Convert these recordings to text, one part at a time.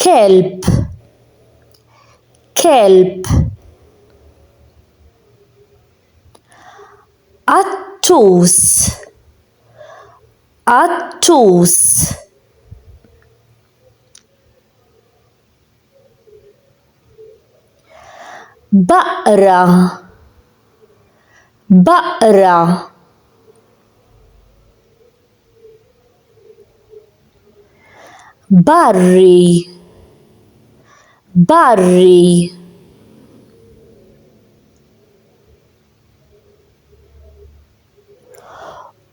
kelb kelb qattus qattus baqra baqra barri barri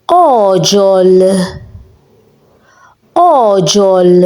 għoġol għoġol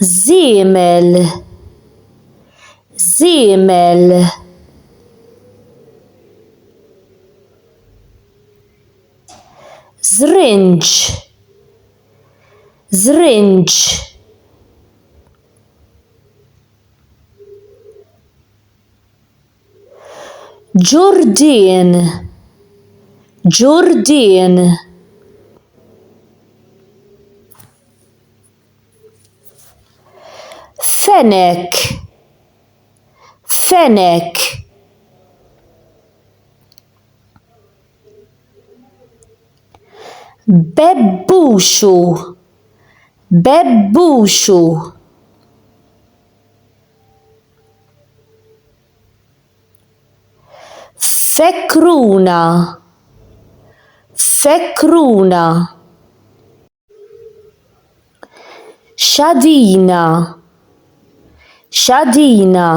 żiemel żiemel żrinġ żrinġ Ġurdien Ġurdien Fenech Fenech Bebbuxu Bebbuxu Fekruna. Fekruna. Xadina. Xadina.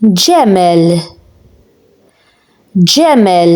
Ġemel. Ġemel.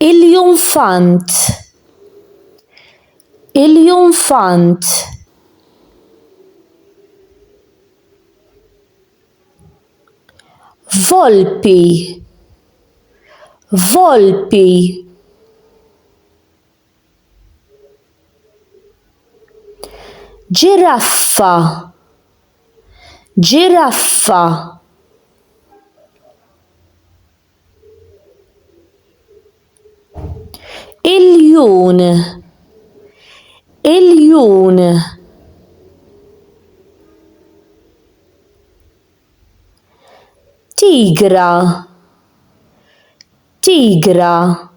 Il-junfant Il-junfant Volpi Volpi ġiraffa ġiraffa iljun iljun tigra tigra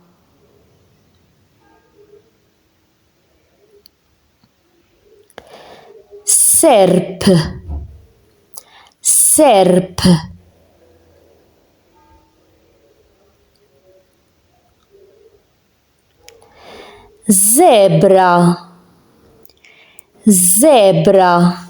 serp serp żebra żebra